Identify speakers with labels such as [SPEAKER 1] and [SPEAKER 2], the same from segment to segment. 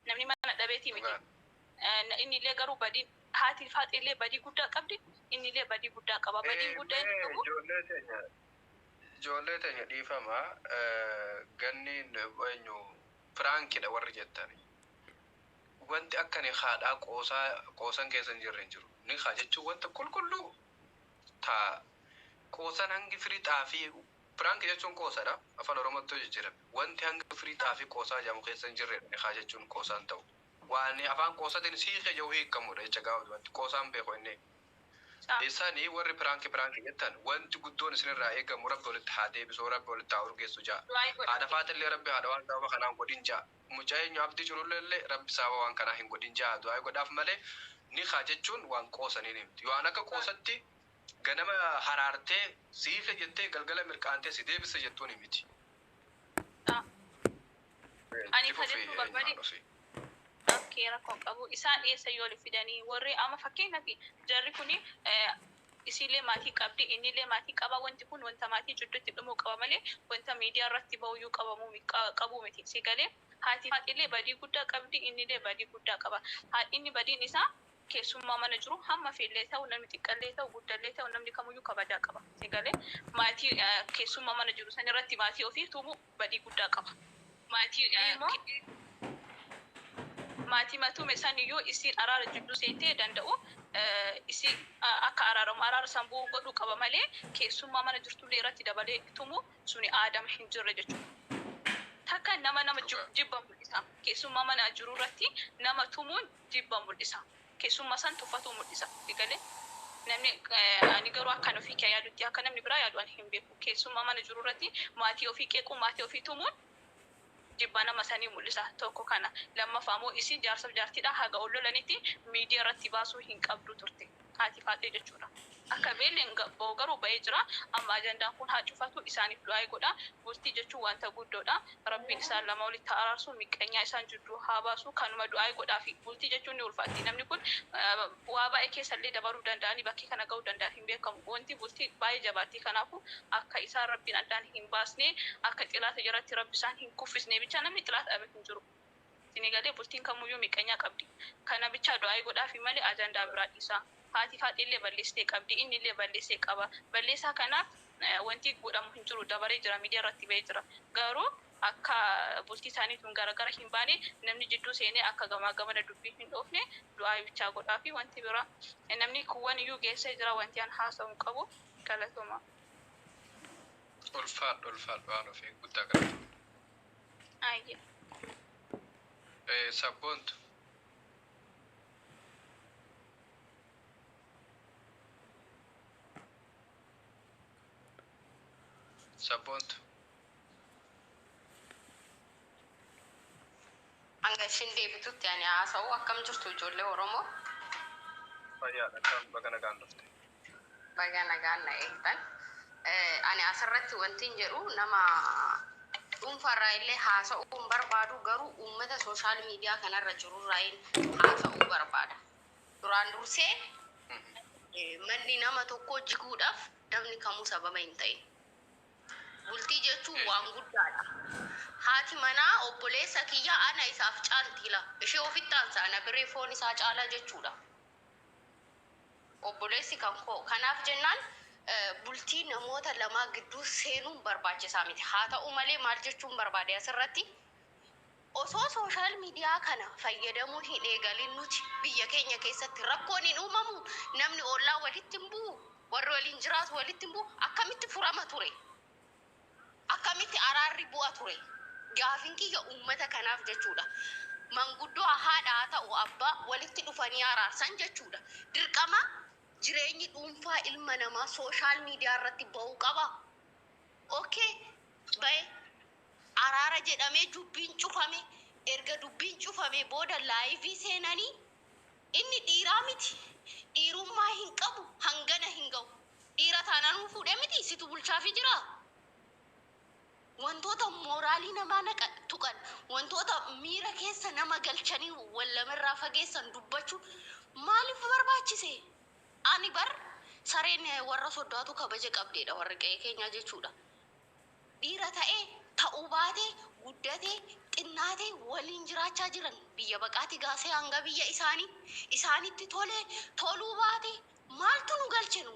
[SPEAKER 1] Namni mana dhabeetii miti. Dhugaa. Eh, Inni illee garuu badii haati faaxee illee badii guddaa qabdi. Inni illee badii guddaa qaba. Badiin Eh, guddaa inni mee qabu Ijoollee teenya
[SPEAKER 2] ijoollee teenya dhiifama eh, ganni eenyu piraankidha warri jettani. Wanti akka ni haadhaa qoosaa qoosan keessa hin jirre hin jiru. Ni haa jechuun wanta qulqulluu taa qoosan hangi firii xaafii Prank jechuun qoosadha. Afan Oromootti yoo jijjirame. Wanti hanga firii xaafii qoosaa jedhamu keessa hin jirredha nikaa jechuun qoosaa hin ta'u. Waani afaan qoosatiin si hiike jedhu hiikkamudha jecha gabaabdumatti. Qoosaa hin beeku inni. Isani warri prank prank jettan wanti guddoon isin irraa eegamu rabbi walitti haa deebisu rabbi walitti haa urgeessu ja'a. Haadha faaxillee rabbi haadha waan sababa kanaa hin godhin ja'a. Muca eenyu abdii cululleellee rabbi sababa waan kanaa hin godhin ja'a du'aayi godhaaf malee nikaa jechuun waan qoosaniini miti. Waan akka qoosatti Ganama haraartee si hiike jettee galgala mirqaantee si deebiste jettuunii miti.
[SPEAKER 1] Dha. Ani Itti kan fufi jechuu eenyumaan barbaade dhufi. okay rakkoo hin qabu isaan eessayyuu oli fidanii warri amma fakkeenyaaf jarri kun isiillee maatii qabdi innillee maatii qaba wanti kun wanta maatii jidduutti dhumuu qaba malee wanta miidiyaa irratti bahuyyuu qabamuu mi- qa- qabuu miti si galee haati haatiillee badii guddaa qabdi innillee badii guddaa qaba Haa- inni badiin isaa keessummaa mana jiru hamma feellee ta'u namni xiqqallee ta'u guddallee ta'u namni kamuyyuu kabajaa qaba. Si galee? Maatii keessummaa mana jiru san irratti maatii ofii tumu badii guddaa qaba. Maatii immoo maatima tume san iyyuu isiin araara jidduu seentee danda'u isi akka araaramu araara san bu'u godhuu qaba malee keessummaa mana jirtullee irratti dabalee tumu suni aadama hin jirre jechuudha. Takka nama nama jib- Dhugaa. jibba mul'isa. Keessummaa mana jiru irratti nama tumuun jibba mul'isa. Keessumma san tuffatuu mul'isa. Si galee? Namni ani garuu akkan ofii kiyaa yaadutti akka namni biraa yaadu ani hin beeku. Keessumma mana jiru irratti maatii ofii qeequun maatii ofii tumuun jibba nama sanii mul'isa. Tokko kana. Lammaffaa immoo isiin jaarsaf jaartiidha haga ol lolanitti miidiya irratti baasuu hin qabdu turte. Haati Faaxee jechuudha. Akka beellen ba'u garuu ba'ee jira. Amma ajandaan kun haa cufatu, isaaniif du'aayi godhaa. Bultii jechuun wanta guddoodha. Rabbiin isaan lama walitti haa araarsu, miqqanyaa isaan jidduu haa baasu. Kanuma du'aayi godhaafii. Bultii jechuun ni ulfaatti. Namni kun waa baay'ee keessa illee dabaruu danda'anii bakkee kana ga'uu danda'a hin beekamu. Wanti bultii baay'ee jabaatti. Kanaafu, akka isaan Rabbiin addaan hin baasne, akka xilaata jalatti Rabbi isaan hin kuffisne bicha namni xilaata dhabe hin jiru. Isinii galee bultiin kamuyyuu miqqanyaa qabdi kana bichaa du'aa'ii godhaafii malee ajandaa biraa dhiisaa haati faaxeellee balleessitee qabdi innillee balleessee qaba balleessaa kanaaf wantii godhamu hin jiru dabaree jira miidiyaa irratti ba'ee jira garuu akka bultii isaanii tun garagara hin baane namni jidduu seenee akka gamaa gamana dubbiin hin dhoofne du'aa'ii bichaa godhaafii wanti biraa namni kuwwan iyyuu geessee jira wantii an haasa'u hin qabu galatomaa. Ulfaadhu
[SPEAKER 2] ulfaadhu haaloo fi guddaa galatomi. Aayye.
[SPEAKER 1] Eh,
[SPEAKER 2] Sabboontu. Sabboontu.
[SPEAKER 3] Hanga ishiin deebitutti ani haasa'u akkam jirtu ijoollee Oromoo?
[SPEAKER 2] Fayyaadha akkam baga nagaan dhufte. Baga
[SPEAKER 3] nagaan na eegdan. Ani asirratti wantin jedhu nama dhuunfaarraa illee haasa'uu hin barbaadu garuu uummata sooshaal miidiyaa kanarra jirurraayin haasa'uu barbaada. Duraan dursee eh, manni nama tokkoo jiguudhaaf namni kamuu sababa hin ta'in. Bultii jechuun waan guddaadha. Haati manaa obboleessa kiyya ana isaaf caalti ila. Ishee ofitti aansa ana biree foon isaa caalaa jechuudha. Obboleessi kan koo kanaaf jennaan bultii namoota lamaa gidduu seenuun barbaachisaa miti. Haa ta'u malee maal jechuun barbaade asirratti osoo sooshaal miidiyaa kana fayyadamuu hin eegalin nuti biyya keenya keessatti rakkoon hin uumamu namni ollaa walitti hin bu'u warri waliin jiraatu walitti hin bu'u akkamitti furama ture. Akkamitti araarri bu'a ture? Gaafin kiyya uummata kanaaf jechuudha. Manguddoo haadha haa ta'u abbaa walitti dhufanii araarsan jechuudha. Dirqama jireenyi dhuunfaa ilma namaa social media irratti ba'uu qabaa? Ok ba'e. Araara jedhamee dubbiin cufame. Erga dubbiin cufamee booda live seenanii Inni dhiiraa miti dhiirummaa hin qabu hangana hin gahu dhiira taanaanuu fuudhee miti situ bulchaafii jiraa wantoota mooraalii namaa naqan tuqan wantoota miira keessa nama galchanii wal namarraa fageessan dubbachuun maaliif barbaachise ani bar sareen warra soddaatu kabaja qabdeedha warri qe'ee keenyaa jechuudha. Dhiira ta'e, ta'uu baate, guddate, xinnaate waliin jiraachaa jiran. Biyya baqaatii gaasee hanga biyya isaanii. Isaanitti tole, toluu baate maaltu nu galche nu?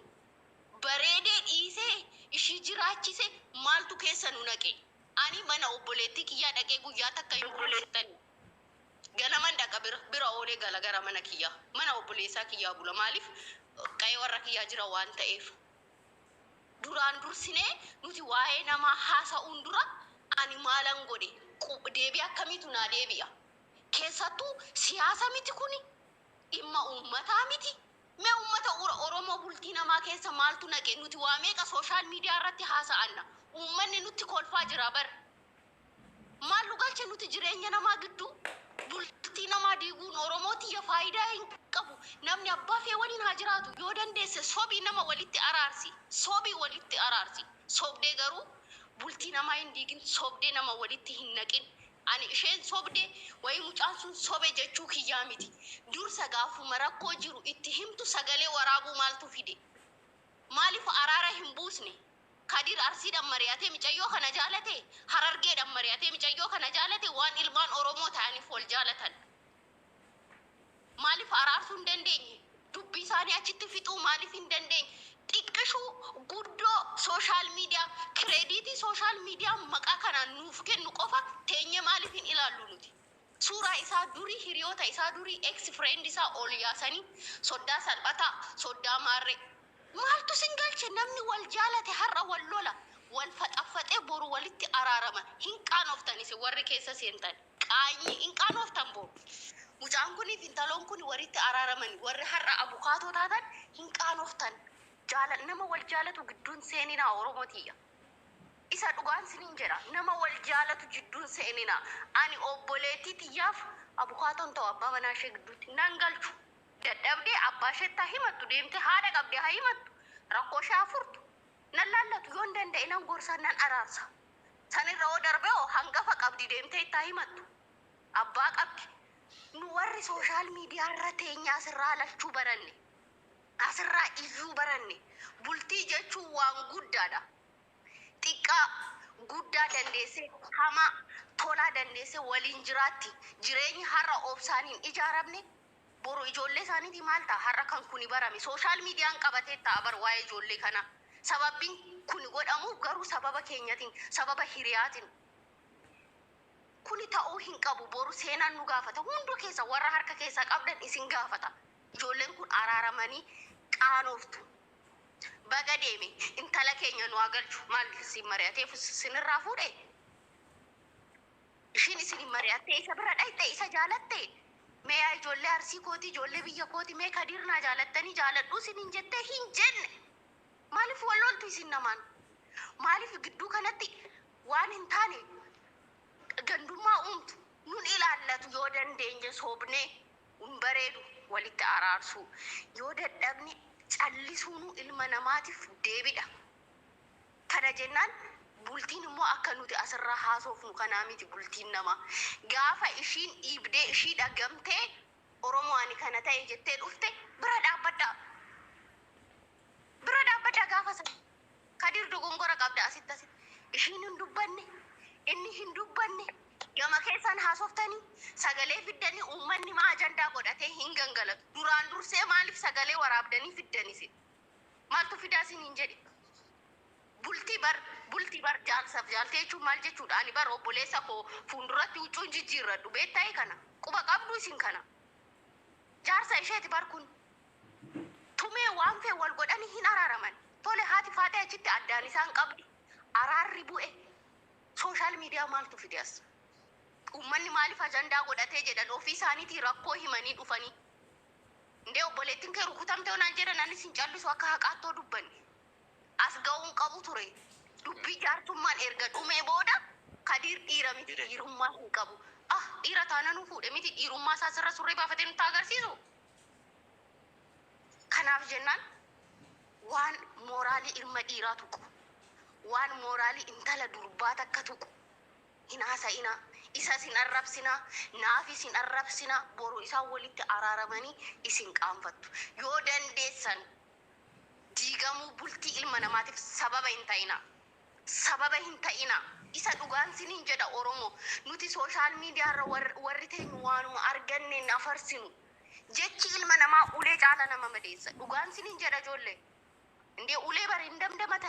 [SPEAKER 3] Bareedee dhiisee ishii jiraachise maaltu keessa nu naqe? Ani mana obboleettii kiyyaa dhaqee guyyaa takka hin bulu jettanii? Ganaman dhaqa bira, bira oolee gala gara mana kiyyaa. Mana obboleessaa kiyyaa bula. Maaliif? Qa'ee warra kiyyaa jira waan ta'eef. Duraan dursinee nuti waa'ee namaa haasa'uun dura ani maalan godhe? qub deebii akkamiitu naa deebi'a? Keessattuu siyaasa miti kuni? Dhimma uummataa miti? Mee uummata ura Oromoo bultii namaa keessa maaltu naqe? Nuti waa meeqa social media irratti haasa'anna? Uummanni nutti kolfaa jira bar! Maal nu galche nuti jireenya namaa gidduu? Bultii namaa diiguun Oromoo tiyya faayidaa hin qabu. Namni abbaa fee waliin haa jiraatu. Yoo dandeesse sobii nama walitti araarsi. Sobii walitti araarsi. Sobdee garuu bultii namaa hin diigin. Sobdee nama walitti hin naqin. Ani isheen sobde wayii mucaan sun sobe jechuu kiyyaa miti. Dursa gaafuma rakkoo jiru itti himtu sagalee waraabuu maaltu fide? Maaliif araara hin buusne? Kadir Arsiidhan mari'atee micayyoo kana jaalate, Harargeedhan mari'atee micayyoo kana jaalate, waan ilmaan Oromoo ta'aniif wal jaalatan. Maaliif araarsuu hin dandeenye? Dubbii isaanii achitti fixuu maaliif hin dandeenye? Xiqqishuu, guddoo, social media, kireediitii social media maqaa kanaan nuuf kennu qofa teenyee maaliif hin ilaallu nuti? Suuraa isaa durii hiriyoota isaa durii ex friend isaa ol yaasanii soddaa salphataa soddaa maarree maaltu sin galche namni wal jaalate har'a wal lola wal faxaffaxee boru walitti araarama hin qaanoftan isin warri keessa seentan qaanyii hin qaanooftan boo mucaan kuniif intaloon kuni waritti araaramani warri har'a abukaatoo taatan hin qaanoftan jaala nama wal jaalatu gidduu hin seeninaa oromoo tiyya. Isa dhugaan sinin jedha nama wal jaalatu jidduu hin seenina ani obboleettii tiyyaaf abukaatoo hin ta'u abbaa manaa ishee gidduutti nan galchu dadhabdee abbaa isheetti haa himattu deemtee haadha qabdee haa himattu rakkoo ishee haa furtu nan laallatu yoon danda'e nan gorsa nan araarsa san irra hoo darbee hoo hangafa qabdi deemtee itti haa himattu abbaa qabdi nu warri sooshaal miidiyaa irra teenyaa sirraa lachuu baranne Asirraa iyyuu baranne bultii jechuun waan guddaadha. Xiqqaa, guddaa dandeessee hamaa, tolaa dandeessee waliin jiraatti. Jireenyi har'a obsaan hin ijaaramne boru ijoollee isaaniitii maal ta'a? Har'a kan kuni barame sooshaal miidiyaan qabatee ta'a bar waa'ee ijoollee kanaa. Sababbiin kuni godhamuuf garuu sababa keenyatiin, sababa hiriyaatiin. Kuni ta'uu hin qabu. Boru seenaan nu gaafata. Hunduu keessa warra harka keessaa qabdan isin gaafata. Ijoolleen kun araaramanii qaanooftu. Baga deeme intala keenya nu haa galchu maal isin mari'atee sinirraa fuudhe? Ishiin isin mari'attee isa bira dhayxe isa jaalatte? Mee yaa ijoollee arsii kooti ijoollee biyya kooti mee kadiir naa jaalattanii jaaladhuu isiniin jettee hin jenne. Maaliif wal loltu isin namaan? Maaliif gidduu kanatti waan hin taane gandummaa uumtu? Nun ilaallatu yoo dandeenye soobnee. hin bareedu walitti araarsuu yoo dadhabne callisuunuu ilma namaatiif deebidha kana jennaan bultiin immoo akka nuti asirraa haasoofnu kanaa miti bultiin namaa gaafa ishiin dhiibdee ishii dhagamtee oromoo ani kana ta'e jettee dhufte bira dhaabbadhaa. Dura dhaabbadhaa gaafa sana. Kadir dogongora qabda asitti asitti. Ishiin hin dubbanne, inni hin dubbanne, gama keessan haasoftanii, sagalee fiddanii uummanni maa ajandaa godhatee hin gangalatu. Duraan dursee maaliif sagalee waraabdanii fiddan isin? Maaltu fidaa isiniin jedhe? Bultii bar bultii bar jaarsaf jaartii jechuun maal jechuudha? Ani bar obboleessa koo fuulduratti huccuu hin jijjiirradhu beektaayi kana. Quba qabdu isin kana. Jaarsa isheeti bar kun. Tumee waan fee wal godhani hin araraman tole haati faaxee achitti addaan isaan qabdi araarri bu'e social media maaltu fide as ummanni maalif ajandaa godhatee jedhan ofii isaanitii rakkoo himanii dhufanii ndee obboleettin kee rukutamte yoo naan jedhan anis hin callisu akka haqaatti yoo dubbanne as ga'uun qabu ture dubbii jaartummaan erga dhumee booda kadiir dhiira miti dhiirummaa hin qabu ah dhiira taananuu fuudhe miti dhiirummaa isaa sirra surree baafatee nutti agarsiisu Kanaaf jennaan waan mooraalii ilma dhiiraa tuqu, waan mooraalii intala durbaa takka tuqu hin haasa'inaa, isas hin arrabsinaa, naafis hin arrabsinaa, boru isaan walitti araaramanii isin qaanfattu. Yoo dandeessan diigamuu bultii ilma namaatiif sababa hin ta'inaa. sababa hin ta'ina isa dhugaan sinin jedha oromo nuti social media irra warri teenyu waanuma arganneen afarsinu jechi ilma namaa ulee caala nama madeessa dhugaan sinin jedha ijoollee indee ulee bar hin damdamatanii.